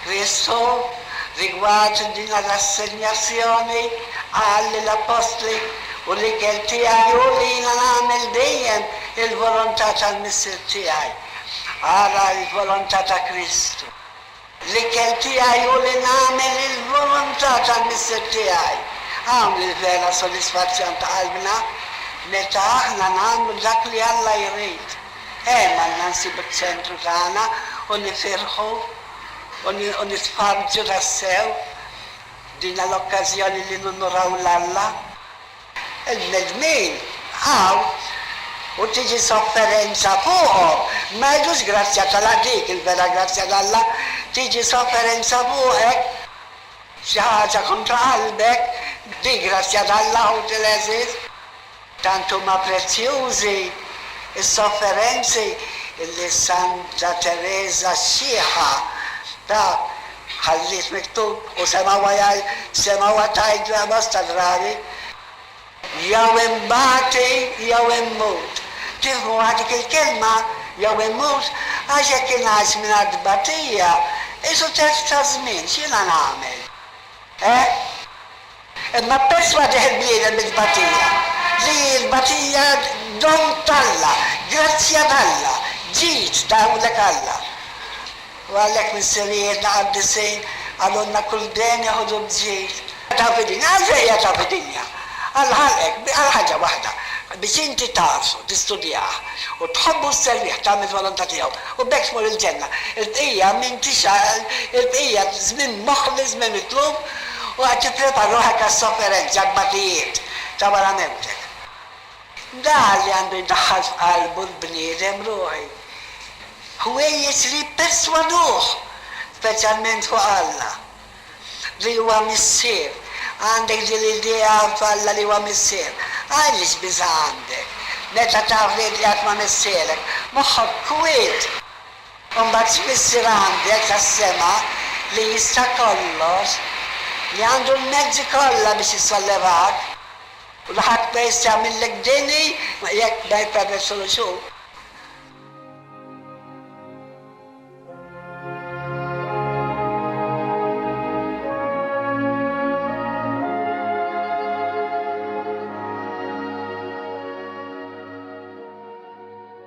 Kristu, rigward din l-assenjazzjoni, qal lill-appostli, U l-ikel tiegħi hu li jiena nagħmel dejjem il-volontà tal-Missier tiegħi. Ara l-volontà ta' Kristu. L-ikel tiegħi hu li nagħmel il-volontà tal-Missier tiegħi. Hawn hi l-vera sodisfazzjon ta' qalbna, meta aħna nagħmlu dak li Alla jrid. Hemm għandna nsibu ċ-ċentru tagħna u nifirħu u nisparġu tassew. Dina l-okkażjoni li nunuraw 'l Alla. Il-bnedmin hawn u tiġi sofferenza fuqhom, ma jridux grazzja tal-Alla, dik il-vera grazzja t'Alla, tiġi sofferenza fuqek, xi ħaġa kontra qalbek, dik grazzja t'Alla, ħuti l-għeżież. Tant huma prezzjużi s-sofferenzi li Santa Tereża x-Xiħa ta. Ħalliet miktub, u semgħuha jgħid, semgħuha tgħidla bosta drabi, Jew inbati jew immut. Tifhmuha dik il-kelma, jew immut? Għax jekk ingħix mingħajr tbatija, qisu telf ta' żmien, x'jiena nagħmel? Eh? Imma perss ma ġieħ il-bniedem mit-tbatija, li hi l-tbatija don t'Alla, grazzja t'Alla, ġid ta' hawnhekk Alla. U għalhekk missirijietna qaddisin qalulna kull deni ħudu b'ġid. Taf id-dinja. Għalfejn hija taf id-dinja? Alla ħalqek għal ħaġa waħda, biex inti tagħrfu, tistudjah, u tħobbu u sservih, tagħmel il-volontà tiegħu, u b'hekk tmur il-ġenna. Il-bqija m'intix għal il-bqija żmien moħli, żmien mitluf. U qed tipprepar ruħek għas-sofferenzi, għat-tbatijiet ta' wara mewtek. Dan li għandu jdaħħal f'qalbu l-bniedem ruħi, ħwejjeġ li jipperswaduh, speċjalment fuq Alla, li huwa Missier. Għandek din l-idea f'Alla li huwa Missier? Għaliex biża' għandek, meta taf li inti qatt ma missierek? Moħħok kwiet. Imbagħad tfisser għandek għas-sema li jista' kollox, li għandu l-mezzi kollha biex isollevak, u li ħadd ma jista' jagħmillek deni jekk ma jippermessulux hu.